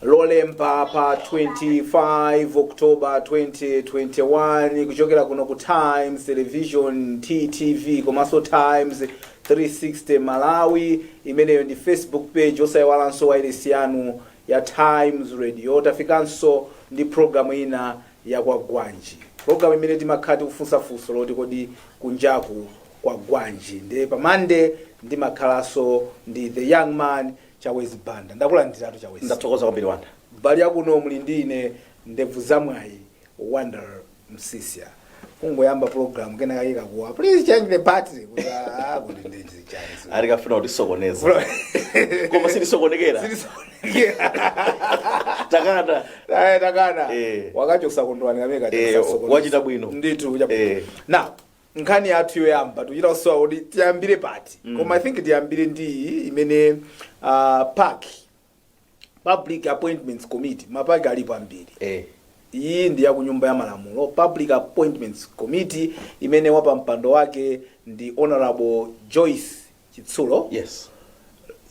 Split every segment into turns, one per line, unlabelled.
Lolemba pa 25 October 2021 kuchokera kuno ku Times Television TTV komanso Times 360 Malawi imeneyo ndi Facebook page osayiwalanso wailesi yanu ya Times Radio tafikanso ndi program ina ya kwagwanji. Program imene timakhala tikufunsa funso loti kodi kunjaku kwagwanji. Nde pa Monday ndimakhalaso ndi the young man Chawezi Banda. Ndakulandiratu Chawezi. Ndathokoza kwambiri
Wonder. Mbali ya kuno
muli ndi ine ndevu za mwayi Wonder Msiska. Kungoyamba program kena kake kakuwa. Please change the battery. Kuti ah, kuti ndezi. alikufuna
kutisokoneza Bro. koma sitisokonekera takana Aye, takana
Eh. wakachosa Kondwani kameka Eh, tisasokoneza. wachita
bwino. ndithu wachita bwino.
Eh. now nkhani yathu yoyamba tuchita kusowa kuti tiyambire pati koma i think tiyambire ndi iyi imene ah, PAC Public Appointments Committee, mapaki alipo ambiri. Eh. Iyi ndi ya ku nyumba ya malamulo, Public Appointments Committee imene wapampando wake ndi Honorable Joyce Chitsulo. Yes.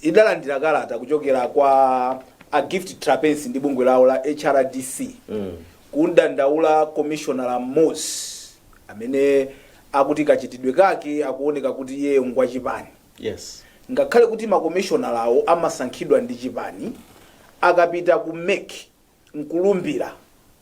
Idalandira kalata kuchokera kwa a Gift Trapence ndi bungwe lawo la HRDC. Mm. Kumdandaula commissioner mmodzi amene akuti kachitidwe kake akuoneka kuti iye ngwachipani.
Yes. Ngakhale
kuti makomishonalawo amasankhidwa ndi chipani, akapita ku mec n'kulumbira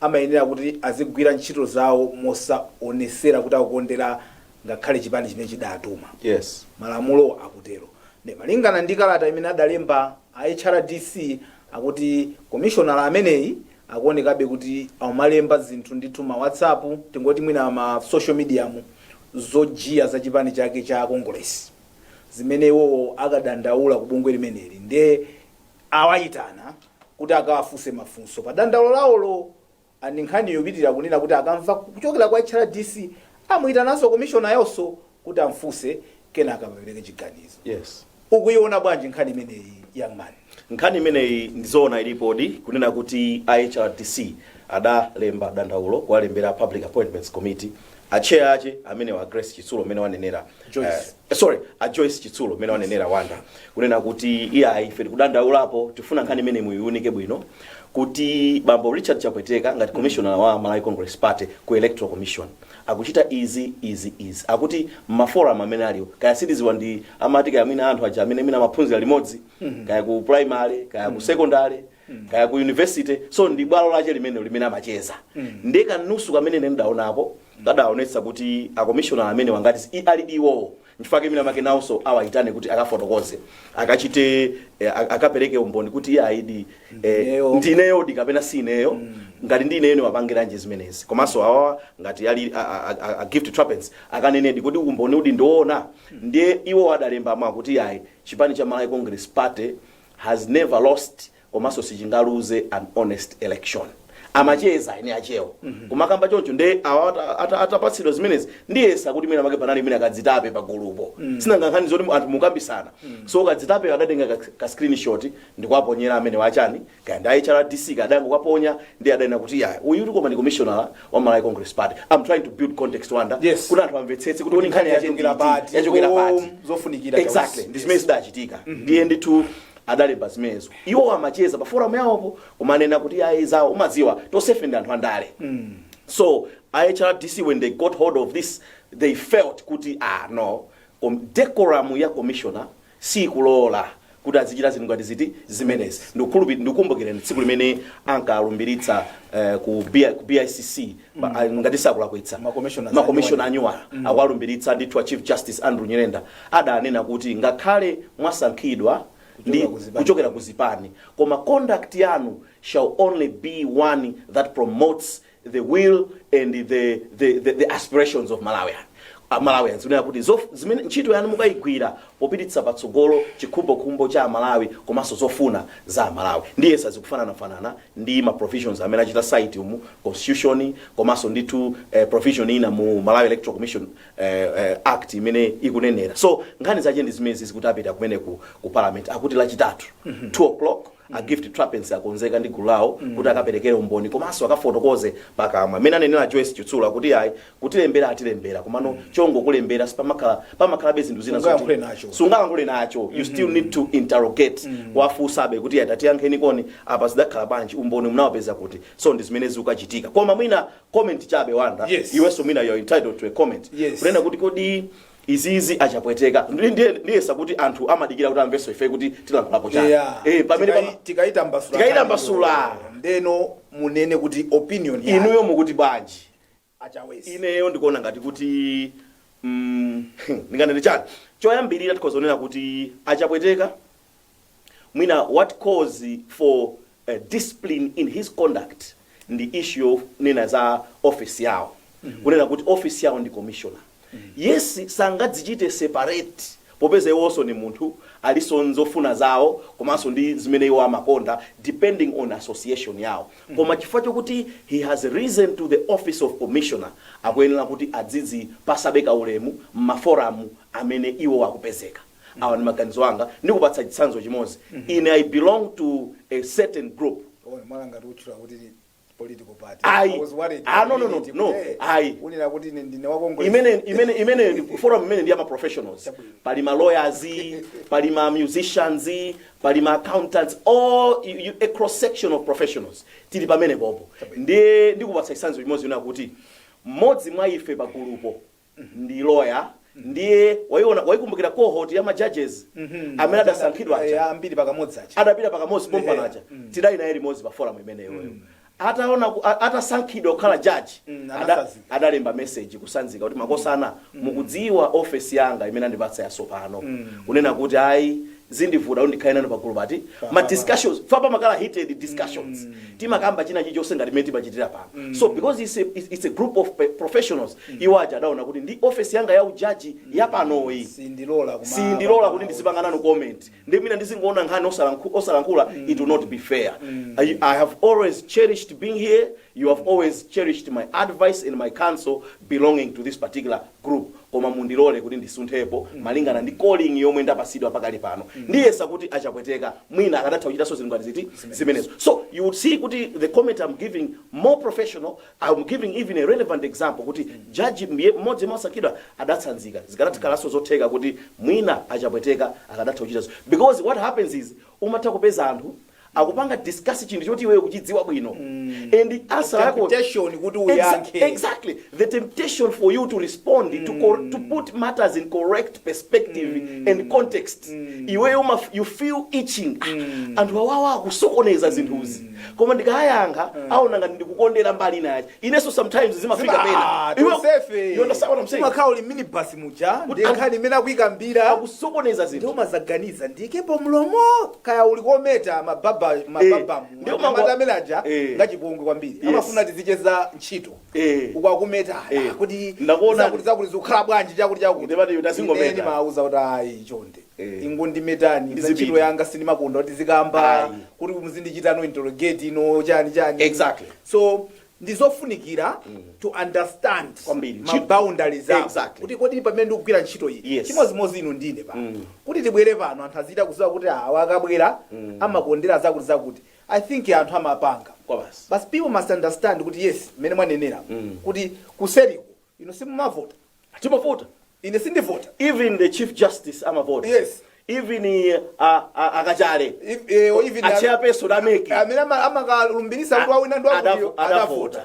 amayenera kuti azigwira ntchito zawo mosaonetsera kuti akukondera ngakhale chipani chimene chidaatuma. Yes. Malamulo akutero. Ndiye malingana ndi kalata imene adalemba a HRDC akuti komishonala ameneyi akuonekabe kuti akumalemba zinthu ndithu ma whatsapp tingoti mwina ma social media mu zochemerera za chipani chake cha kongolesi zimene iwowo adakadandaula ku bungwe limeneli nde awayitana kuti akawafunse mafunso pa dandaulo lawolo and nkhani yopitira kunena kuti akamva kuchokera kwa hrdc amuyitananso komishonayonso kuti amfunse kenaka apereke chiganizo yes
ukuiona
bwanji nkhani imeneyi young man nkhani
imeneyi ndizoona ilipodi kunena kuti a hrdc adalemba dandaulo kuwalembera public appointments committee a chair ake amene a grace chitsulo amene wanenera Joyce. eh, sorry a joyce chitsulo amene wanenera wanda kunena kuti iyayi ife tikudandaulapo tifuna nkhani imeneyi muyiunike bwino kuti bambo richard chapweteka ngati commissioner wa malawi congress party ku electoral commission akuchita izi, izi, izi, akuti mma forum amene aliwo, kaya sindidziwa ndi amati kaya mwina anthu aja amene mwina amaphunzira limodzi, kaya ku primary, kaya ku secondary, kaya ku university, so ndi bwalo lache limene limene amacheza. Ndiye kanusu kamene ine ndidaonako kadaonetsa kuti akomishonala amenewa ngati i- ali iwowo Nchifukwa chake mwina mwake nawonso awaitane kuti akafotokoze, akachite, akapereke umboni kuti iyayidi ndi ineyodi kapena si ineyo. Ngati ndi ineyo ndimapangiranji zimenezi? Komanso awawa ngati ali a, a, a, a Gift Trapence akanenedi kuti umboni uwudi ndiwoona. Ndiye iwo adalemba mwa kuti ayi chipani cha Malawi Congress Party has never lost komanso sichingaluze an honest election amacheza eni akewo kumakamba choncho nde awa ata- ata- atapatsidwa zimenezi ndiyesa kuti mwina make panali wina kadzitape pa gulupo sinanga nkhani zoti anthu mukukambirana so kadzitape adatenga ka- ka screenshot ndikuwaponyera amene wachani kaya ndi hrdc kaya adangokuponya ndi adanena kuti ya uyu siuyu koma ndi commissioner wa malawi congress party i'm trying to build context Wonder Yes. kuti anthu amvetsetse kuti kodi nkhani yache ndi Yachokera iti, pati, yachokera zo- pati zofunikira
exactly Chausi. ndi zimene
zidachitika ndiye ndithu adalemba zimenezo iwowo amacheza pa forum yawopo kumanena kuti ayi zawo umadziwa tonsefe ndife anthu andale so hrdc when they got hold of this they felt kuti ah no kom- decorum ya commissioner sikulola kuti azichita zinthu ngati ziti zimenezi Ndikukhulupi- ndikukumbukirani tsiku limene ankalumbiritsa eh, ku B- ku bicc pa- ah, ngati sindikulakwitsa Ma commissioners makomishona anyuwala akuwalumbiritsa ndithu a chief justice andrew nyirenda adanena kuti ngakhale mwasankhidwa ndi kuchokera ku zipani koma conduct yanu shall only be one that promotes the will and the, the, the, the aspirations of Malawian. A Malawians kunena kuti zof- zimene ntchito yanu mukayigwire popititsa patsogolo chikhumbokhumbo cha Amalawi komanso zofuna za Amalawi ndiye sizikufananafanana ndi ma provisions amene achita cite mu constitution komanso ndithu eh, provision ina mu Malawi Electoral Commission eh, eh, act imene ikunenera so nkhani zache ndi zimenezizi kuti apita kumene ku, ku parliament akuti lachitatu 2 o'clock a gift trapence akonzeka ndi gulu lawo kuti akaperekere umboni komanso akafotokoze pakamwa amene anenera joyce chitsula kuti ayi kutilembera atilembera komano chongokulembera sipamakhala pamakhalabe zinthu zina zoti- Sungayankhule nacho. sungalankhule nacho you still need to interrogate kuwafunsabe kuti tatiyankheni kodi apa zidakhala bwanji umboni munaupeza kuti so ndi zimene zikukachitika koma mwina comment chabe Wonder Yes. iwenso mwina you're entitled to a comment Yes. kunena kuti kodi izizi achapweteka Ndi- ndiye- ndiyesa kuti anthu amadikira kuti amvenso ife kuti tilankhulapo chani Yeah. Eh, pamene Tikai- pama- tikaitambasula Tikaitambasula.
ndeno munene kuti opinion yanu. inuyo mukuti
bwanji a
Chausi. ineyo ndikuona
ngati kuti mm, ndinganene chani choyambirira tikhoza kunena kuti achapweteka mwina what calls for uh, discipline in his conduct ndi issue yonena za office yawo kunena kuti office yawo ndi commissioner yes sangadzichite separate popeza iwonso ni munthu alinso ndi zofuna zawo komanso ndi zimene iwo amakonda depending on association yawo koma chifukwa chokuti he has risen to the office of commissioner akuyenera kuti azidzipatsabe kaulemu m'maforamu amene iwo akupezeka awa ndi maganizo anga ndikupatsa chitsanzo chimodzi ine i belong to a certain group Ona, mwala ngati
utchula kuti ni political party Ayi. I was worried. Ah,
no, no, no, Kuti, no. eh, Ayi. unena
kuti ine ndine wa Congress. imene imene imene ndi-
forum imene ndi ya ma professionals pali ma lawyers pali ma musicians pali ma accountants all you, you, a cross section of professionals tili pamene popo ndiye ndikupatsa chitsanzo chimodzi chonena kuti mmodzi mwa ife pagulupo ndi lawyer ndiye waiona waikumbukira cohort ya ma judges amene adasankhidwa aja Eh, ambiri pakamodzi
aja adapita pakamodzi pompano
aja Mm. tidali naye limodzi pa forum imeneyo ataona ku- a- atasankhidwa kukhala jaji Mm, ada- anatsanzika. adalemba message kutsanzika kuti makosana mukudziwa ofesi yanga imene andipatsa yasopano kunena kuti ayi zindivuta kuti ndikhale nanu pagulu pa ma discussions paja pamakhala heated discussions timakamba china chilichonse ngati mmene timachitira pano so because it's a, it's it's a group of pe- professionals iwo aja adaona kuti ndi office yanga ya ujaji ya panoyi sindilola kuma- sindilola kuti ndizipanga nanu comment ndiye mwina ndizingoona nkhani osalankhu- osalankhula it will not be fair I, i have always cherished being here you have always cherished my advice and my counsel belonging to this particular group koma mundilole kuti ndisunthepo malingana ndi calling yomwe ndapatsidwa pakali pano ndiyesa kuti a Chapweteka mwina akadatha kuchitanso zinthu ngati ziti zimenezo so you would see kuti the comment I'm giving more professional I'm giving even a relevant example kuti judge mye- mmodzi yemwe wasankhidwa adatsanzika zikadakhalanso zotheka kuti mwina a Chapweteka akadatha kuchitanso because what happens is umatha kupeza anthu akupanga discuss chinthu choti iweyo ukuchidziwa bwino and answer yako Temptation kuti Exa-
uyankhe. exactly
the temptation for you to respond to, cor- to put matters in correct perspective and context iweyo umaf- you feel itching Ah, anthu awawa akusokoneza zinthuzi koma ndikayankha aona ngati ndikukondera mbali ina yake inenso sometimes zimafika Zima- ah, pena Iwe- tonsefe. you understand
what I'm saying? Umakhala uli m'minibus muja Kuti- ndi nkhani imene akuyikambira akusokoneza zinthu
ndiye
umadzaganiza ndiikepo mlomo kaya uli kometa ma barber ma Eh, barber mu ndiye ameta umangwa- amene aja Eh. ngachipongwe kwambiri Yes. amafuna tizicheza ntchito Eh. uku akumeta Eh. ah, kuti Ndakuona. zakuli zakuli zikukhala bwanji chakuti chakuti Ndiye pati ndazingometa. Ine ndimauza kuti ayi chonde Eh. ingondimetani za Ndizipita. ntchito yanga sindimakonda kuti ndizikamba Ayi. kuti muzindichitanso interrogate ino chani chani Exactly. so ndi zofunikira to understand Kwambiri. ma Ntchito- boundaries ako Exactly. kuti kodi
pamene ndikugwira
ntchito iyi Yes. chimodzimodzi inu ndi ine pano kuti tibwere pano anthu azichita kuziwa kuti awa akabwera amakondera zakuti zakuti i think anthu amapanga Kwa basi. but people must understand kuti yes mmene mwanenera kuti kuseriku Inu simumavota.
Timavota. Ine
sindivota. Even the
Chief Justice amavota. Yes. Even
uh, a,
a, a Kachale. If- eh, or even
A a- chairperson
a MEC. amene ama- amakalumbirisa
kuti wawina ndi wakuti Adavo- adavota adavota.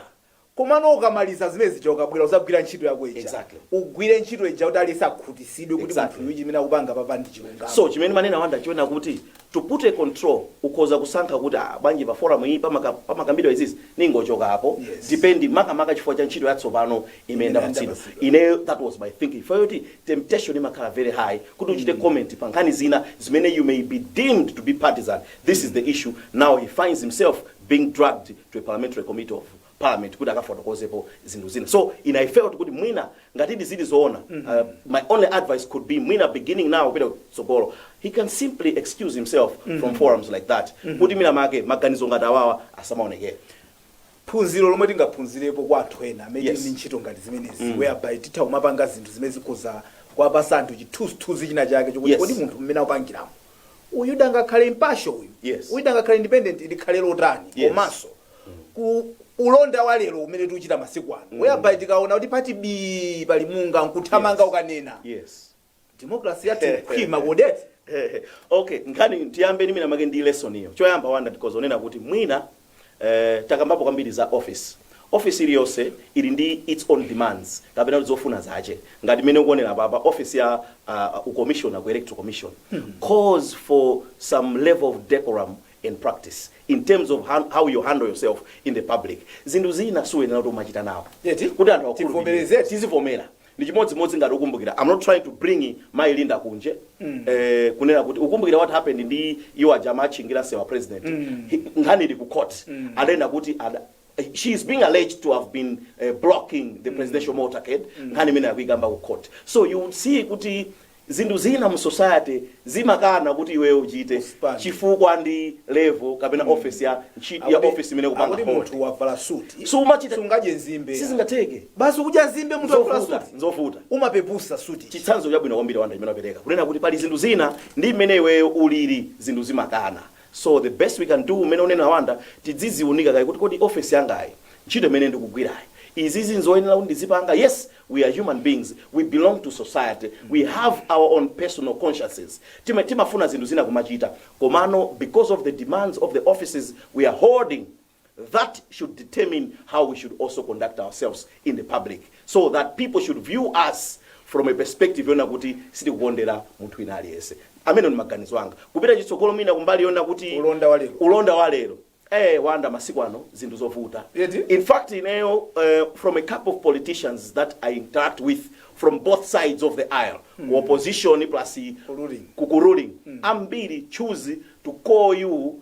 komano ukamaliza zimene zija ukabwera uzagwira ntchito yako ija Exactly. ugwire ntchito ija kuti aliyense akhutisidwe kuti Exactly. munthu uyu chimene akupanga papa ndi chilungamo So chimene mwanena Wanda
ndi choona kuti To put a control ukhoza kusankha kuti aah bwanji pa forum iyi pamaka pamakambidwa izizi ningochokapo Yes. depending makamaka chifukwa cha ntchito yatsopano imene Imene ndapatsidwa ndapatsidwa. ineyo that was my thinking chifukwa choti temptation imakhala very high kuti uchite comment pa nkhani zina zimene you may be deemed to be partisan this is the issue now he finds himself being dragged to a parliamentary committee of parliament kuti akafotokozepo zinthu zina so i i felt kuti mwina ngatidi zili zoona uh, my only advice could be mwina beginning now kupita kutsogolo he can simply excuse himself from forums like that kuti mwina make maganizo ngati awawa asamaonekere
phunziro lomwe tingaphunzirepo kwa anthu ena amene Yes. yes. ali ndi ntchito ngati zimenezi mm. whereby titha kumapanga zinthu zimene zikhoza kuwapasa anthu chithunzithunzi china chake chokuti Yes. kodi munthu mmene akupangiramo uyu angakhale impartial uyu Yes. uyu angakhale independent likhale lotani Yes. komanso ku ulonda wa lero umene tikuchita masiku ano whereby tikaona kuti pati bii pali munga nkuthamanga Yes. ukanena
yes democracy yathu
ikhwima kodi eti okay
nkhani tiyambeni mwina make ndi lesson iyo choyamba wanda because uwona kuti mwina eh, takambapo kwambiri za office office iliyonse ili ndi its own demands kapena kuti zofuna zache ngati mmene ukuonera papa office ya uh, ucommissioner ku electoral commission calls for some level of decorum and practice in terms of han how you handle yourself in the public zinthu zina suyenera kuti umachita nawo Eti? kuti anthu akukhulupirire. Tivomereze. tizivomera ndi chimodzimodzi ngati ukumbukira i'm not trying to bring mayi Linda Kunje eh, kunena kuti ukumbukira what happened ndi iwo aja amatchingira msewu wa president He- nkhani ili ku court adaenda kuti ada- she is being alleged to have been uh, blocking the presidential motorcade nkhani imene akuikamba ku court so you would see kuti zinthu zina mu society zimakana kuti iweyo uchite Usipange. chifukwa ndi level kapena office ya ntchito ya office imene ukupanga kuti hold. munthu
wavala suti So umachita-
sungadye
nzimbe sizingatheke
sibasi kudya
nzimbe munthu wavala Nzovuta, suti nzovuta umapepusa
suti
chitsanzo chabwino kwambiri Wanda
chimene wapereka kunena kuti pali zinthu zina ndi mmene iweyo ulili zinthu zimakana So the best we can do mmene ukunenera Wanda tidziziunika kaye kuti kodi office yangayi ntchito imene ndikugwirayi izizi nzoyenera kuti ndizipanga? Yes we are human beings we belong to society we have our own personal consciences ti- timafuna zinthu zina kumachita komano because of the demands of the offices we are holding that should determine how we should also conduct ourselves in the public so that people should view us from a perspective yona kuti sitikukondera munthu wina aliyense amene ndi maganizo anga kupita chitsogolo mwina kumbali yona kuti Ulonda wa lero. ulonda wa lero eh Wanda masiku ano zinthu zovuta Eti? in fact ineyo uh, from a couple of politicians that i interact with from both sides of the aisle mm. opposition plus Ruling. kukuruling mm. ambiri choose to call you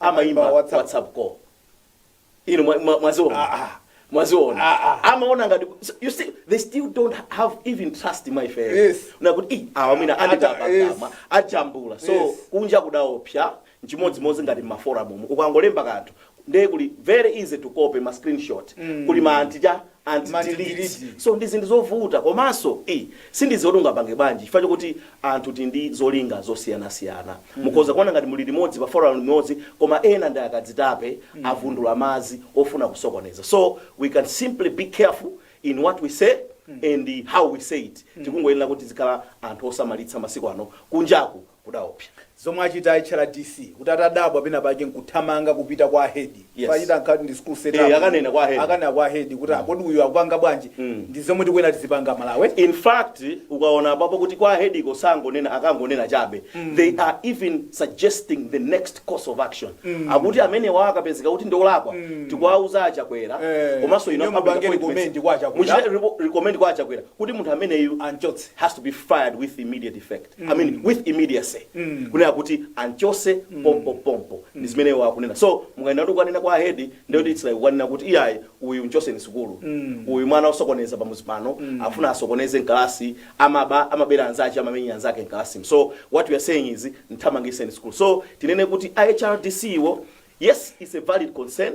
amaimba Amaimba WhatsApp. whatsapp call inu mwa- mwa- mwaziona Ah, ah. mwaziona Ah, ah. amaona ngati you see they still don't have even trust in my face Yes. nakuti "Ih,
awa
mwina Ata- anditepa yes. kapena ajambula so Yes. kunja kudaopsa nchimodzimodzi ngati maforum umu ukangolemba kanthu ndiye kuli very easy to copy ma screenshot kuli ma anti anti Ma delete delete. so ndi zinthu zovuta komanso ii sindiziwa kuti ungapange bwanji chifukwa chokuti anthu tili ndi zolinga zosiyanasiyana mukhoza kuona ngati muli limodzi pa forum limodzi koma ena ndi akadzitape avundula madzi ofuna kusokoneza so we can simply be careful in what we say and how we say it tikungoyenera kuti tizikhala anthu osamalitsa masiku ano kunjaku kudaopsa. Zomwe achita
a HRDC kuti atadabwa pena pake nkuthamanga kupita kwa head Yes. pachita nkati ndi school set Eh, up. akanena kwa head.
akanena kwa head
kuti kodi uyu akupanga bwanji Mm. ndi zomwe tikuyenera tizipanga Malawi in fact
ukaona apapo kuti kwa hediko sangonena akangonena chabe they are even suggesting the next course of action akuti amenewa akapezeka kuti ndiolakwa tikuwauza a Chakwera Eh, komanso ino inuyo mupangeni recommend
kwa a Chakwera. muchite
recommend kwa a Chakwera kuti munthu ameneyu anchotse has to be fired with immediate effect i mean with immediacy kunena kuti anchose pompo pompo ndi zimene iwo akunena so mukaona kuti kukanena kwa ahedi ndekuti its like kukanena kuti iyayi uyu mchoseni sukulu uyu mwana osokoneza pamuzi pano afuna asokoneze mkalasi amaba amabera anzache amamenya anzake mkalasimu so what we are saying is nthamangiseni sukulu so tinene kuti a HRDC-wo yes its a valid concern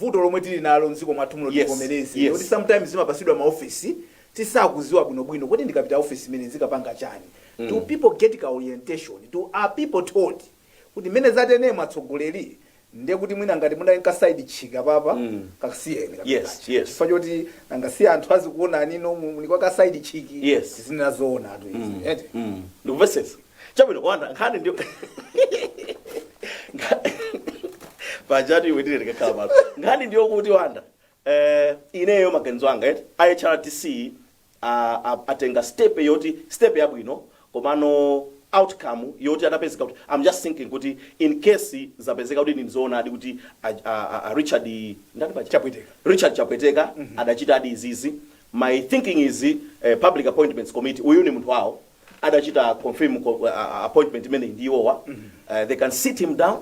vuto lomwe tili nalo mdziko mwathu muno Yes, tivomereze yes. loti sometimes zimapasidwa ma office tisakuziwa bwino bwino kuti ndikapita office imene nzikapanga chani do people get ka orientation are people told kuti mene zatene mwatsogoleri ndiye kuti mwina ngati munali nka side chick apapa kasiyeni kapena Yes, kacha. yes.
chifukwa
choti nanga si anthu azikuonani inu muli kwa ka side chick Yes. zina zoonatu izi eti ndikuvesetsa
chabwino wanda nkhani ndi pajatu iwe ndine ndikakhala pano nkhani ndiyo kuti wanda eh, ineyo maganizo anga eti a HRDC ah, ah, atenga step yoti step yabwino komano outcome yoti atapezeka kuti i'm just thinking kuti in case zapezeka kuti ndi zoonadi kuti a, a, a, a richard ndani paja? Chapweteka. richard chapweteka adachitadi izizi my thinking is eh, public appointments committee uyu ni munthu wawo adachita confirm appointment imeneyi ndi iwowa they can sit him down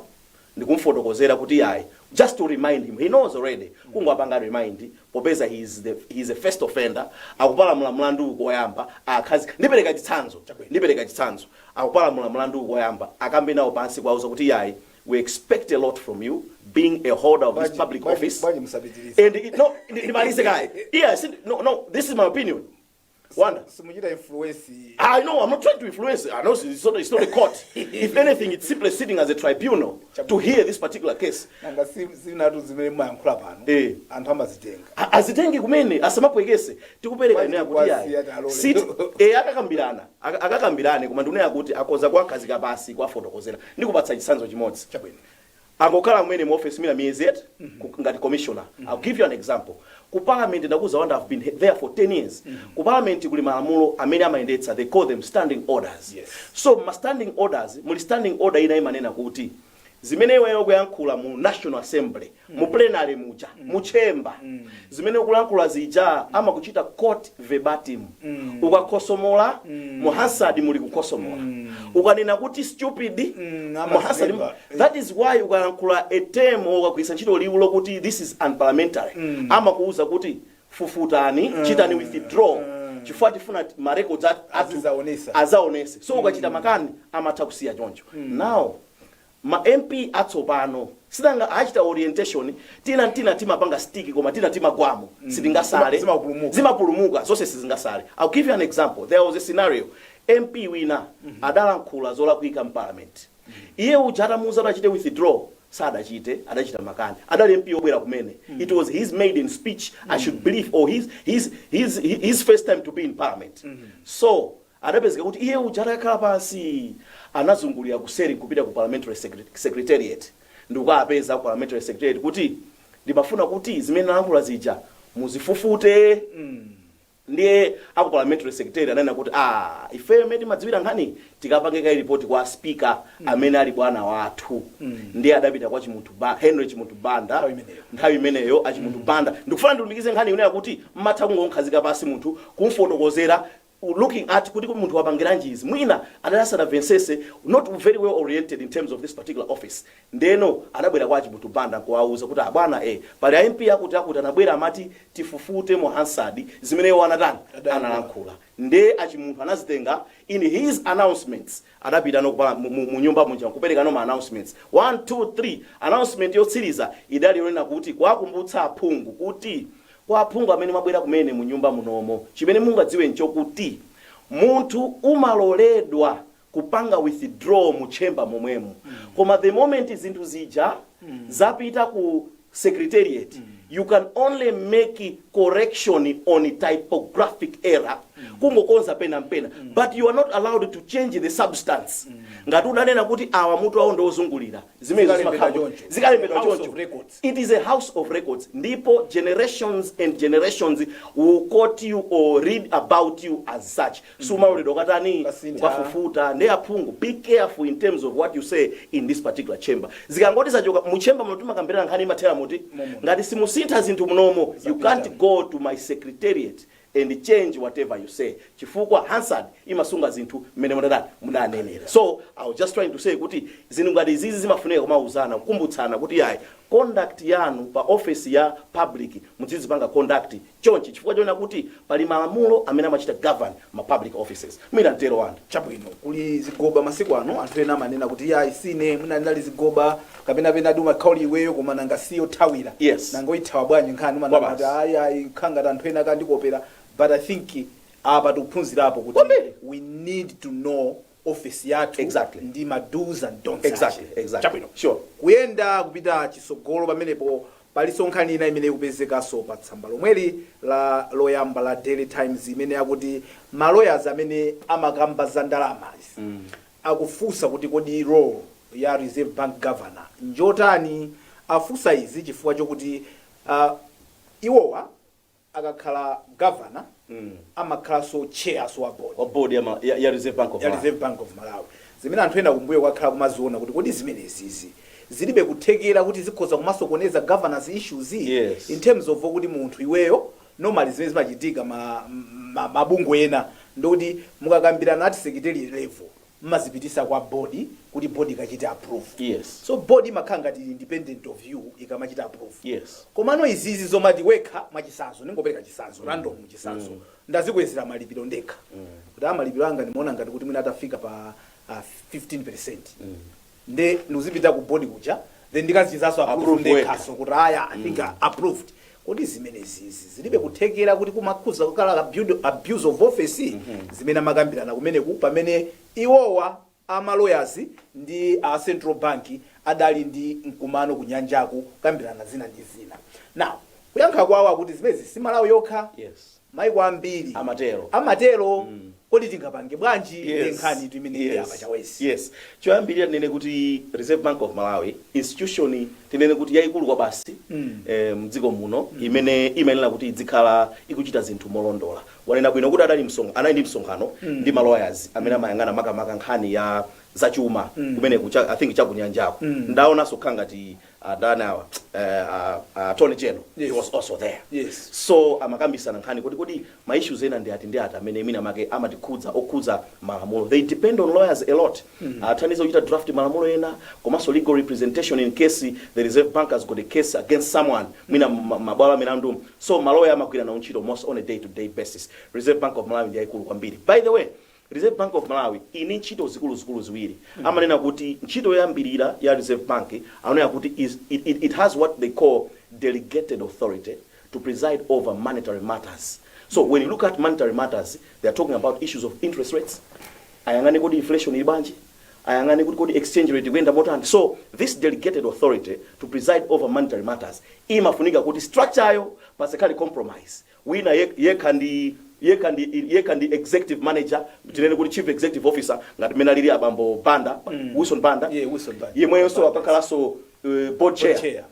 ndikumfotokozera kuti yayi just to remind him he knows already kungowapanga remind popeza he is, the, he is a first offender akupalamula mlandu uwu koyamba akhazi ndipereka chitsanzo ndipereka chitsanzo akupalamula mlandu uwu koyamba akambe nawo pansi kuwauza kuti yayi we expect a lot from you being a holder of this Bwanji- public bwanji- office bwanji musapitirize. and it, no ndimalize kaye yes no no this is my opinion Wanda. Si- simuchita influence I know, I'm not trying to influence. I know it's not, it's not a court. if anything, it's simply sitting as a tribunal to hear this particular case. nanga si- zinatu zimene mumayankhula pano Eh. anthu amazitenga A- azitenge kumene asamapwekese tikupereka Why kunena kuti why yayi see alone? sit e akakambirana aka- akakambirane koma ndikunena kuti akoza kuwakhazika pasi kuwafotokozera ndikupatsa chitsanzo chimodzi chabwino angokhala mmene mu office mwina miyezi et ku- ngati commissioner i'll give you an example ku parliament ndakuza wanda i've been he- there for 10 years ku parliament kuli malamulo amene amayendetsa they call them standing orders Yes. so ma
standing
orders muli standing order ina imanena kuti zimene iweyo ukuyankhula mu national assembly mu plenary muja mu chamber zimene ukulankhula zija amakuchita quote verbatim ukakhosomola mu hansard muli kukhosomola ukanena kuti stupid Mm, mu hansard amakulemba. That is why ukalankhula a term or ukagwiritsa ntchito liwu lokuti this is unparliamentary amakuuza kuti fufutani, chitani withdraw chifukwa tifuna ma records at- athu Azizaonesa. azaonese. So ukachita makani amatha kusiya choncho. Now ma MP atsopano sinanga amachita orientation tina tina timapanga stick koma tina timagwamo sitingasale Zima- zimapulumuka. zimapulumuka zonse sizingasale i'll give you an example there was a scenario mp wina adalankhula zolakwika mparliament Iye uja atamuuza kuti achite withdraw sadachite adachita makani adali MP obwera kumene it was his maiden speech I should believe or his, his, his, hi- his first time to be in parliament so adapezeka kuti iye uja atakhala pansi anazungulira kuseri kupita ku parliamentary secret- secretariat ndikukawapeza ku parliamentary secretariat kuti ndimafuna kuti zimene nalankhula zija muzifufute Ndiye aku parliamentary secretary ananena kuti aah ifeyo mmene timadziwira nkhaniyi tikapange kaye report kwa speaker amene ali bwana wathu. Ndiye adapita kwa Chimunthu Ba, Henry Chimunthu Banda Nthawi imeneyo. nthawi imeneyo a Chimunthu Banda. Ndikufuna ndilumikize nkhani yonena kuti mmatha kungomkhazika pansi munthu kumfotokozera looking at kuti kodi munthu wapangiranji izi. Mwina adali asanamvetsetse not very well oriented in terms of this particular office. Ndeno adabwera kwa a Chimunthu Banda nkuwauza kuti abwana ee pali a MP akuti akuti anabwera amati tifufute mu Hansard zimene iwo anatani analankhula nde a Chimunthu anazitenga in his announcements adapitano mu nyumba muja nkuperekano ma announcements 1 2 3 announcement yotsiriza idali yonena kuti kuwakumbutsa aphungu kuti kwa aphungu amene mwabwera kumene munyumba munomo chimene mungadziwe nchokuti munthu umaloledwa kupanga withdraw mu chamber momwemo koma the moment zinthu zija zapita ku secretariat you can only make correction on a typographic error kungokonza pena mpena but you are not allowed to change the substance ngati udanena kuti awa mutu awo ndiwozungulira zimene zikalembedwa choncho. it is a house of records ndipo generations and generations will quote you or read about you as such sumaloledwa ukatani ukafufuta nde aphungu be careful in terms of what you say in this particular chamber zikangoti zachoka mu chamber muno timakambirana nkhani imathera muti ngati simusintha zinthu munomo you can't go to my secretariat and change whatever you say chifukwa hansard imasunga zinthu mmene munatani munanenera so i was just trying to say kuti zinthu ngati izizi zimafunika kumauzana kukumbutsana kuti yayi conduct yanu pa office ya public mudzizipanga conduct chonchi chifukwa chonena kuti pali malamulo amene amachita govern ma public offices. Mwina ntero anthu. Chabwino, kuli
zigoba masiku ano. Anthu ena amanena kuti iyayi siine, mwina inali zigoba, kapena penadi umakhala uli iweyo koma nanga si yothawira. Yes. Nanga
uyithawa bwanji
nkhani? Umanama kuti ayi kukhala ngati anthu ena akandikopera. But I think apa tikuphunzirapo kuti we need to know office yathu ndi ma
do's
and don'ts ake. Exactly.
Chabwino.
Sure.
Kuyenda
kupita chisogolo pamenepo palinso nkhani ina imene ikupezekanso pa tsamba lomweli la loyamba la Daily Times imene akuti ma lawyers amene amakamba za ndalamazi akufunsa kuti kodi role ya Reserve Bank governor njotani afunsa izi chifukwa chokuti uh, iwowa akakhala governor amakhalanso chair wa board
ya Reserve Bank of Malawi. Reserve Bank of Malawi
zimene anthu ena kumbuyoku akhala kumaziona kuti kodi zimenezizi zilibe kuthekera kuti zikhoza kumasokoneza governance issues Yes. in terms of kuti munthu iweyo normally zimene zimachitika ma, ma, mabungwe ena ndikuti mukakambirana at secretary level mmazipitisa kwa board kuti board ikachite approve Yes. so board imakhala ngati ili independent of you ikamachita approve Yes. komano izizi zomati wekha mwachisanzo ndingopereka chisanzo random chisanzo ndazikwezera malipiro ndekha kuti a malipiro anga ndimaona ngati kuti mwina atafika pa ah, 15 percent nde ndikuzipita ku board kuja then ndikazichitaso approve Approve ndekhanso kuti aya i think approved kodi zimenezizi zilibe kuthekera kuti kumakhuza kukhala abuse- abuse of office zimene amakambirana kumeneko pamene iwowa amalawyers ndi a central bank adali ndi mkumano kunyanjaku kukambirana zina ndi zina now kuyankha kwawo akuti zimezi si malawi yokha yes Maiko ambiri amatero. Amatero. Kodi tingapange bwanji nde Yes. nkhanitu imeneyi apa Yes. Chawezi. Yes. Choyambirira tinene
kuti Reserve Bank of Malawi institution tinene kuti yaikulu kwabasi Mm. eh, mdziko muno imene imayenera kuti idzikhala ikuchita zinthu molondola. Wanena bwino kuti adali msonk anali ndi msonkhano Mm. ndi malawyers amene amayang'ana makamaka nkhani ya zachuma Mm. kumene kucha, I think chakunyanjako. Mm. Ndaonanso kukhala ngati analipo awa eh, a- a attorney general Yes. he was also there Yes. so amakambisana nkhani kuti kodi ma issues ena ndi ati ndi ati amene mwina make amatikhudza okhudza malamulo they depend on lawyers a lot amathandiza kuchita draft malamulo ena komanso legal representation in case the reserve bank has got a case against someone mwina ma- mabwalo amilandu so maloya amagwira nawo ntchito most on a day to day basis reserve bank of malawi ndi yayikulu kwambiri by the way Reserve Bank of Malawi ili ndi ntchito zikuluzikulu ziwiri. Amanena kuti ntchito yoyambilira ya Reserve Bank amanena kuti is, it, it, it has what they call delegated authority to preside over monetary matters. So when you look at monetary matters, they are talking about issues of interest rates, ayang'ane kodi inflation ili bwanji ayang'ane kuti kodi exchange rate ikuyenda motani so this delegated authority to preside over monetary matters imafunika kuti structure yawo pasakhale compromise wina yek yekha ndi yekha ndi yekha ndi executive manager, tinene kuti chief executive officer ngati mmene alili abambo Banda, Mm. Wilson Banda, Yeah, Wilson Banda. yemweyonso Banda. akakhalanso uh, board Board chair chair.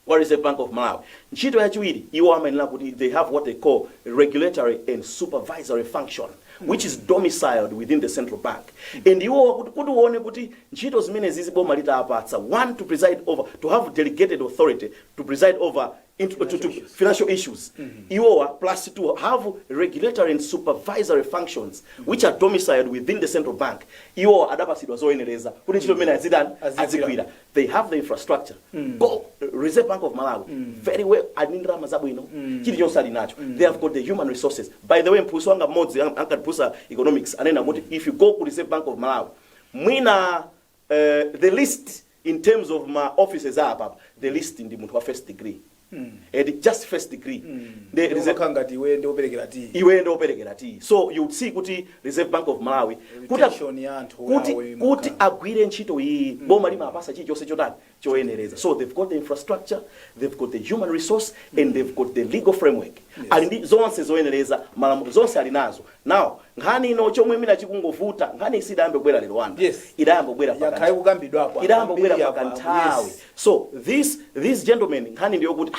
wa Reserve Bank of Malawi. Ntchito yachiwiri iwo amayenera kuti they have what they call regulatory and supervisory function which is domiciled within the central bank and iwo kuti- kuti uone kuti ntchito zimenezi zi boma lidawapatsa one to preside over to have delegated authority to preside over into, to, to financial issues iwowa plus to have regulatory and supervisory functions which are domiciled within the central bank iwowa adapasidwa zoyenereza kuti ntchito imene azitani Azigwira. azigwira they have the infrastructure go reserve bank of malawi very well ali ndi ndalama zabwino chilichonse ali nacho they have got the human resources by the way mphunzitsi wanga mmodzi an- ankatiphunzitsa economics anena kuti if you go ku reserve bank of malawi mwina eeh the least in terms of ma offices a apapa the least ndi munthu wa first degree eti just first degree nde reserve Umakhala ngati iwe ndi operekera tiyi. iwe nde operekera tiyi so you see kuti reserve bank of malawi kuti- Reputation ya anthu kuti yawo imakhala. kuti agwire ntchito iyi boma limawapasa chilichonse chotani choyenereza. So they've got the infrastructure, they've got the human resource and they've got the legal framework. Yes. Ali ndi zonse zoyenereza malamulo zonse ali nazo. Now nkhani ino chomwe mwina chikungovuta nkhani iyi sidayambe kubwera lero wanu. Yes. Idayamba kubwera pa yakhaye kukambidwapo. Idayamba kubwera pakanthawi. Yes. So this these gentlemen nkhani ndiyo kuti ah,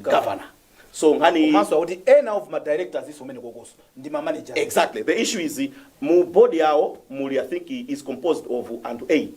governor so nkhani iyi- komanso akuti ena
of ma directors iwo omwewo kukonso ndi ma manager exactly the issue
is mu board yawo muli i think is composed of anthu 8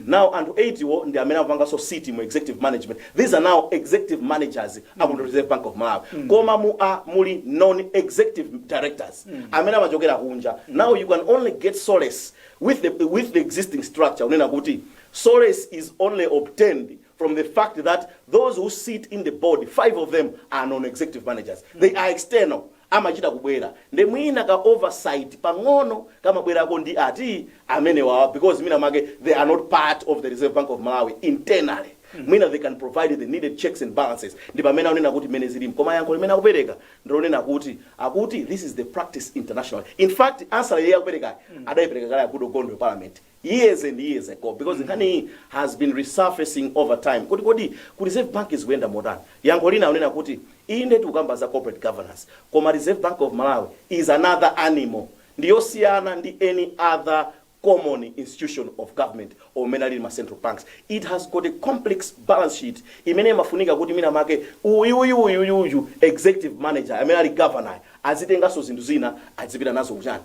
now anthu 8 wo ndi amene akupanganso sit mu executive management these are now executive managers aku reserve bank of malawi koma mu a muli non executive directors amene amachokera kunja now you can only get solace with the, with the existing structure kunena kuti solace is only obtained from the fact that those who sit in the board, five of them are non-executive managers. They are external. amachita kubwera nde mwina ka oversight pang'ono kamabwerako ndi anthu amenewawa because mwina make they are not part of the reserve bank of malawi internally mwina they can provide the needed checks and balances ndi pamene akunena kuti mmene zililimu koma yankho imene akupereka ndilonena kuti akuti this is the practice international in fact answer yake akuperekayo adayipereka kale akuti ugondo parliament years and years ago because nkhani iyi has been resurfacing over time kuti kodi ku reserve bank zikuyenda motani yankho lina akunena kuti inde tikukamba za corporate governance koma reserve bank of malawi is another animal ndi yosiyana ndi any other common institution of government or mmene alili ma central banks it has got a complex balance sheet imene imafunika kuti mwina make uyu uyu uyu uyu uyu executive manager amene ali governor azitenganso zinthu zina azipita nazo kuchani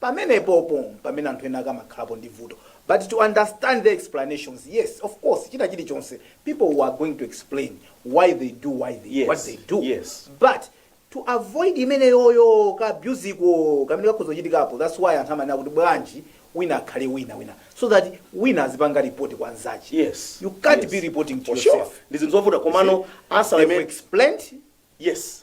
pamenepopo mpamene anthu ena ake amakhalapo ndi vuto but to understand their explanations yes of course china chilichonse people are going to explain why they do what they yes. what they do yes. but to avoid imeneyoyo ka abuse ko kamene kakhoza kuchitikapo that's why anthu amanena kuti bwanji wina akhale wina wina so that wina azipanga report kwa nzake yes. you can't yes. be reporting to for yourself sure. ndi zinthu zovuta komano
answer imene explained
yes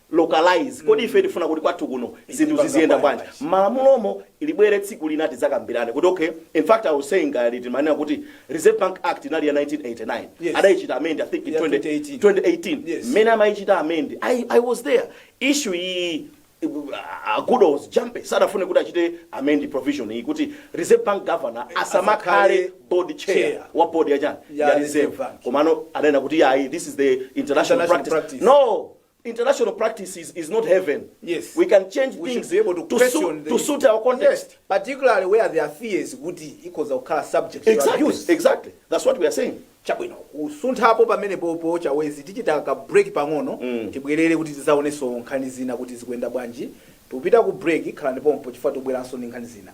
localize kodi ife tifuna kuti kwathu kuno zinthu ziziyenda bwanji mmalamulomo ibwere tsiku lina tidzakambirane kuti okay in fact i was saying uh, timanena kuti reserve bank act inali ya 1989 Yes. adayichita amend i think in Yeah, 2018. 20, 2018 Yes. mmene amayichita amend I, i was there issue iyi uh, kudos jampe sadafune kuti achite amend provision iyi kuti reserve bank governor asamakhale asakhale board chair chair. wa board ya chani Ya ya Reserve reserve Bank. komano adanena kuti ayi this is the international, International practice. practice. no international practice is not heaven. Yes. We can change We things should be able to to, question
suit, the- to suit our
context. particularly where there
are fears kuti ikhoza kukhala subject to Exactly. abuse Exactly. That's what we are
saying. chabwino
kusunthapo pamene popo chawezi tichita ka break pang'ono tibwerere kuti tizaonenso nkhani zina kuti zikuyenda bwanji tikupita ku break khalani pompho chifukwa tibweranso ndi nkhani zina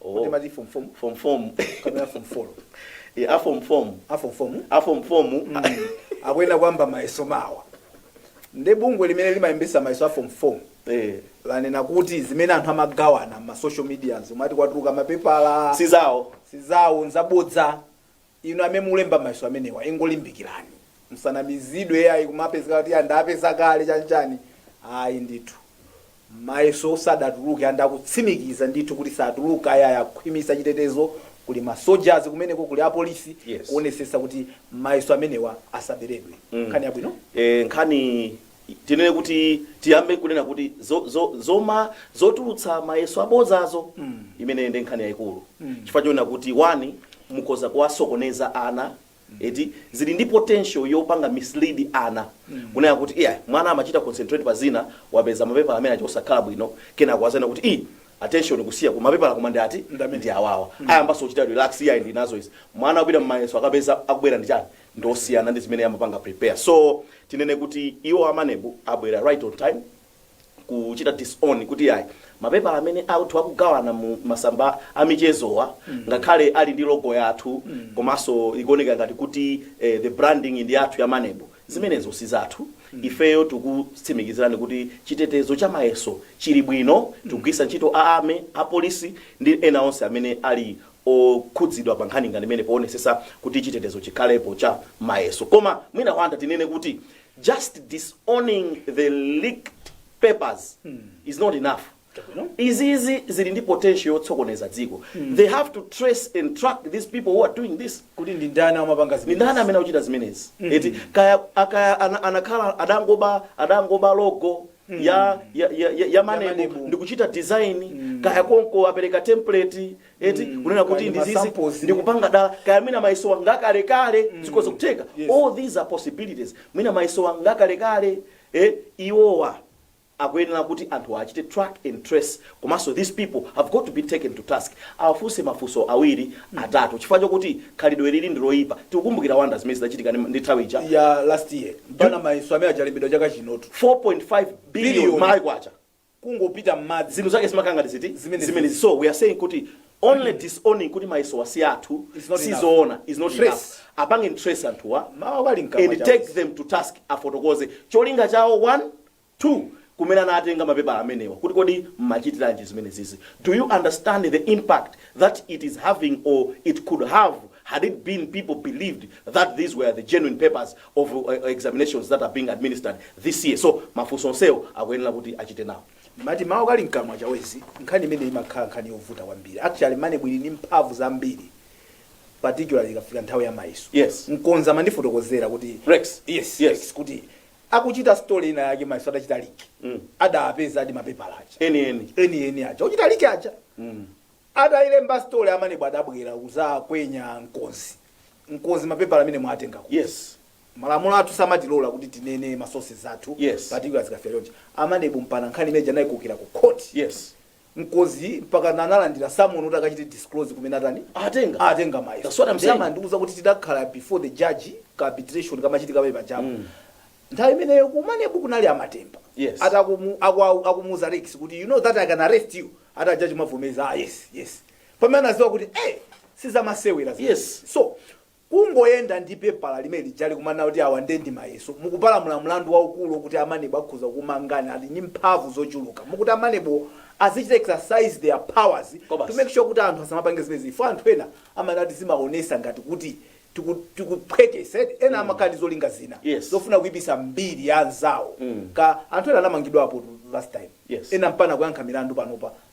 Oh. kuti mati form form form form
kapena form
four Eh, a form form a form form a form form
akuyenera kuyamba
mayeso mawa nde bungwe limene limalembesa mayeso a form form eh lanena kuti zimene anthu amagawana m'ma social media zomwe ati kwatuluka mapepala sizawo sizawo nzabodza Inu amene mukulemba mayeso amenewa ingolimbikilani musanamizidwe ayi kumapezeka kuti yaa ndapeza kale chani chani ayi ndithu mayeso sadatuluke and akutsimikiza ndithu kuti satuluka ayaya akhwimisa chitetezo kuli ma soldiers kumeneko kuli apolisi Yes. kuonesesa kuti mayeso amenewa asabeledwe nkhani yabwino Eh, nkhani
tinene kuti tiyambe kunena kuti zo, zo, zoma zotulutsa mayeso abodzazo mm. imene ndi nkhani yayikulu mm. chifukwa chonena kuti one mukhoza kuwasokoneza ana mm. eti zili ndi potential yopanga mislead ana mm. kunena kuti iya mwana amachita concentrate pa zina wapeza mapepala amene acho osakhala bwino kena kuwazana kuti i attention kusiya ku mapepala koma ndi ati ndi awawa mm. ayambanso kuchita relax iya ndi nazo izi mwana akupita mmayeso akapeza akubwera ndi chani ndosiyana ndi zimene amapanga prepare so tinene kuti iwo a maneb abwera right on time kuchita disown kuti ayi mapepala amene anthu akugawana mu masamba amichezowa ngakhale ali ndi logo yathu komanso ikuoneka ngati kuti eh, the branding ndi yathu ya maneb zimenezo si zathu ifeyo tikutsimikizirani kuti chitetezo cha mayeso chili bwino tikugwiritsa ntchito a army apolisi ndi ena onse amene ali okhudzidwa pa nkhani ngati imene powonesesa kuti chitetezo chikhalepo cha mayeso koma mwina wanda tinene kuti just disowning the leaked papers is not enough Chabwino. izizi zili ndi potential yotsokoneza dziko they have to trace and track these people who are doing this kuti ndi ndani amapanga
zimenezi ndi ndani amene akuchita
zimenezi eti kaya akaya ana- anakhala adangoba adangoba logo mm. ya, ya, ya, ya, ya manebu ndikuchita design mm. kaya konko apereka template eti mm. kunena kuti ndizizi ndikupanga dala kaya mwina mayesowa ngakalekale mm. zikhoza kutheka yes. all these are possibilities mwina mayesowa ngakalekale eh, iwowa akuyenera kuti anthu achite track and trace Komanso these people have got to be taken to task, awafunse mafunso awiri atatu chifukwa chokuti khalidwe ilili ndiloyipa, tikukumbukira wonder zimene zidachitika ndi ndi nthawi ija ya last year
mpakana mayeso amene aja alembedwa chaka chinotu 4.5 billion
Billion. malawi kwacha
kungopita mmadzi zinthu zake zimakhala ngati
ziti Zimene zimene zili. so we are saying kuti only disowning kuti mayesowa si athu It's not enough. sizoona is not Trace. enough apange trace anthuwa mawa wali mkamwa and chawo. take them to task afotokoze cholinga chawo one 2 kumene anatenga mapepala amenewa kuti kodi mmachitiranji zimenezizi? Do you understand the impact that it is having or it could have had it been people believed that these were the genuine papers of examinations that are being administered this year? So mafunso onsewo akuyenera kuti achite nawo. Ndimati mawu akali
mkamwa Chawezi nkhani imene imakhala nkhani yovuta kwambiri. Actually Maneb ili ndi mphamvu zambiri particularly ikafika nthawi ya mayeso. Yes. Mkonzi amandifotokozera kuti Rex. Yes, Yes. Rex, kuti akuchita story ina yake mayeso adachita liki Mm. adapezadi mapepala aja eni eni eni eni aja ochita liki aja Mm. adayilemba story a Maneb adabwera kudzakwenya mkonzi mkonzi mapepala amene mwatengako yes malamulo athu samatilola kuti tinene masources athu Yes. particularly zikafika chonchi a Maneb mpaka nkhani imene ija anayikokera ku court yes mkonzi mpakana analandira summon kuti akachite disclose kumene atani atenga atenga mayeso That's what I'm saying. Ndiye amandiuza kuti
tidakhala
before the judge ka arbitration kamachitika pa ya pa chamber mm. nthawi imeneyo ku Maneb kunali a Matemba Yes. a judge akumu- aku- aku- akumuuza rex kuti you know that i can arrest you ati ajaji mwavomeza ah, yes yes pamene anaziwa kuti eh sizamasewera zimene. Yes. so Kungoyenda ndi pepala limene lijali kumanena kuti awa ndiye ndi mayeso, mukupalamula mlandu waukulu okuti a maneb akhoza kukumangani, ali ndi mphamvu zochuluka. Mokuti a Maneb-wo azichita exercise their powers Kobasi. to make sure kuti anthu asamapange zimenezi chifukwa anthu ena amanena kuti zimaonesa ngati kuti tiku tikuphwekesa eti, ena amakhala ndi zolinga zina Yes. zofuna kuipisa mbiri ya anzawo ka anthu ena anamangidwapo last time Yes. ena mpakana kuyankha milandu panopa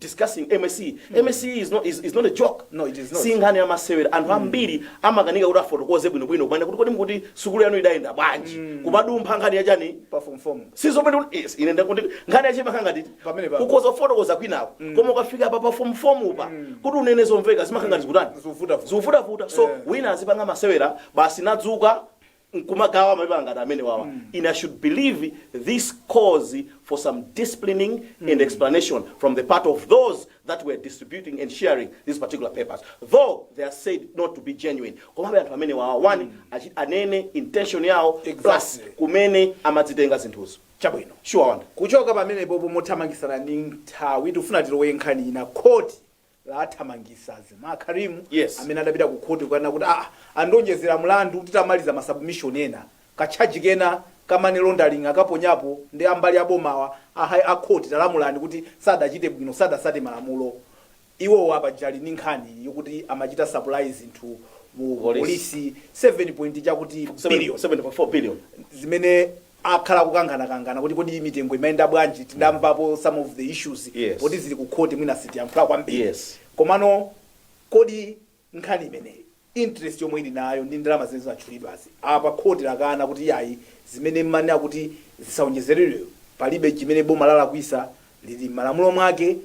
discussing msce msce is not, is, is not a joke No, it is not. si nkhani
ya masewera
anthu ambiri amakanika kuti afotokoze bwinobwino kumene kuti kodi mukati sukulu yanu idayenda bwanji kumadumpha nkhani yachani pa form four ndi
zomwe kuti- yes,
ine ndikuti nkhani yake imakhala ngati Pamene pa- ukhoza kufotokoza kwinako koma ukafika pa pa form four pa kuti unene zomveka zimakhala ngati zikutani Zovutavuta. zovutavuta so Eh. wina azipanga masewera basi n'kudzuka nkumagawa mapepala ngati amenewawa ine i should believe this calls for some disciplining and explanation from the part of those that were distributing and sharing these particular papers though they are said not to be genuine komabe anthu amenewawa one achi- anene intention yawo plus Exactly. kumene amadzitenga zinthuzo chabwino sure Wonder
kuchoka
pamenepopo
mothamangitsana ndi nthawi tikufuna tilowe nkhani ina khoti lathamangitsa a Zameer Karim Yes. amene adapita
ku khoti
kukanena kuti aa andionjezera mlandu titamaliza ma submission ena ka charge kena ka money laundering akaponyapo ndi a mbali ya bomawa a, hi- a court talamulani kuti sadachite bwino sadatsate malamulo iwowa paja ali ndi nkhani yokuti amachita supply zinthu mu Police. polisi 7 point chakuti
billion 7.4 billion zimene
akhala akukangana kangana kuti kodi mitengo imayenda bwanji tidamvapo some of the issues Yes. poti zili ku khoti mwina sitiyankhula kwambiri Yes. komano kodi nkhani imeneyi interest yomwe ili nayo ndi ndalama zimene zinatchulidwazi apa khoti lakana kuti yayi zimene mmanena kuti zisaonjezeredwe palibe chimene boma lalakwisa lili mmalamulo mwake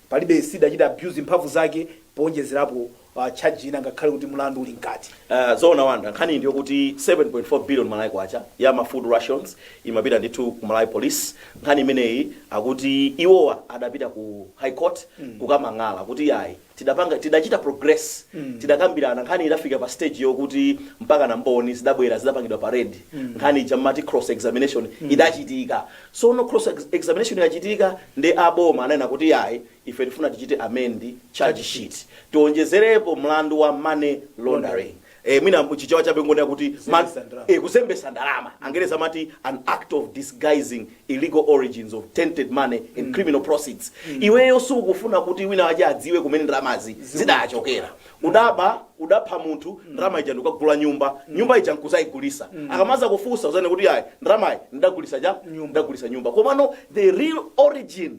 palibe sidachite abuse mphamvu zake poonjezerapo uh, charge ina ngakhale kuti mlandu uli mkati Uh, zoona wonder nkhani
ndiyo kuti 7.4 billion malawi kwacha ya ma food rations imapita ndithu ku malawi police nkhani imeneyi akuti iwowa adapita ku high court kukamang'ala kuti yayi tidapanga tidachita progress mm. tidakambirana nkhani idafika pa stage yokuti mpaka na mboni zidabwera zidapangidwa parade mm. nkhani ija mmati cross examination mm. idachitika sono cross ex examination yachitika ndi aboma ananena kuti yayi ife tifuna tichite amend charge sheet tionjezerepo mlandu wa money laundering eh, mwina mchichewa chabe ngonena kuti ma- Kuzembesa ndalama. eh, kuzembesa ndalama angereza amati an act of disguising illegal origins of tainted money and criminal proceeds iweyo sukufuna kuti wina wache adziwe kumene ndalamazi zidachokera udaba udapha munthu ndalama ija ndikukagula nyumba nyumba ija nkuzayigulisa akamazakufunsa uzanene kuti ayi ndalamayi ndidagulisa ja Nyumba. ndidagulisa nyumba komano the real origin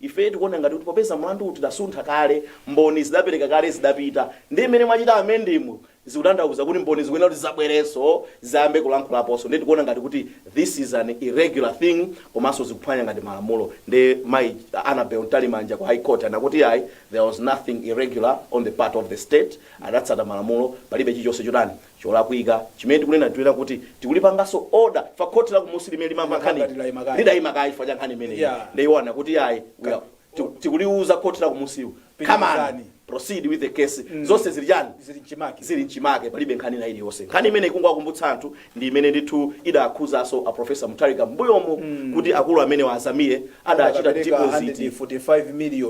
Ife tikuona ngati kuti popeza mlandu uwu tidasuntha kale, mboni zidapereka kale zidapita, ndiye mmene mwachita amend mu zikutanthauza kuti mboni zikuyenera kuti zidzabwerenso zidzayambe kulankhulaponso ndiye tikuona ngati kuti this is an irregular thing komanso zikuphwanya ngati malamulo ndiye mayi Annabel Mtalimanja ku High Court anena kuti yayi there was nothing irregular on the part of the state adatsata malamulo palibe chilichonse chotani cholakwika chimene tikunena tuyera kuti tikulipangaso order chifukwa khoti la kumusi limene limamva Limakhala nkhani ngati layima kaye. lidayima kaye chifukwa cha nkhani imeneyi Yeah. nde iwo anena kuti ayi we are- tiku- tikuliuza khoti la kumusiku come on Pitilizani. proceed with the case zonse zili chani zili mchimake zili mchimake palibe nkhani ina iliyonse nkhani imene ikungowakumbutsa anthu ndi imene ndithu idaakhuzaso a profesa mutharika mbuyomo kuti akulu amenewa a zameer adachita deposit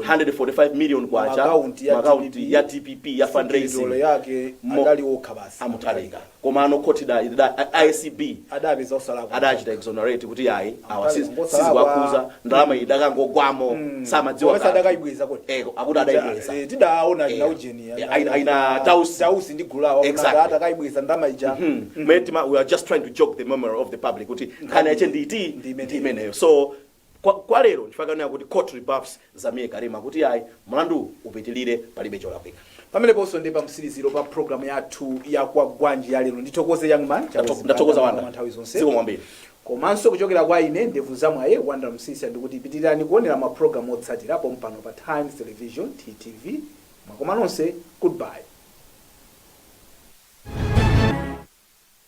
K145 million mu account ya dpp ya fundraising mo
a Mutharika komano
khoti acb
adachita exonerate kuti
ayi awa siziwakhuza ndalama idakangogwamo samadziwa
eko
akuti adaibweza
aina
dausi
Exactly. mwetima we are
just trying to jog the memory of the public kuti nkhani yache ndi iti Ndi imeneyo. ndi imeneyo so kwa, kwa lero ndifakanira kuti court rebuffs zameer karim kuti ayi mlandu upitilire palibe cholakwika pameneponso ndi
pamtsiriziro pa programu yathu ya kwagwanji ya lero ndithokoze young man Chakwezi Ndato- ndathokoza Banda, wonder
nthawi zonse zikomo kwambiri komanso
kuchokera kwa ine ndevu za mwayi wonder msiska ndikuti pitirirani kuonera maprogramu otsatira pompano pa times television ttv makoma nonse goodbye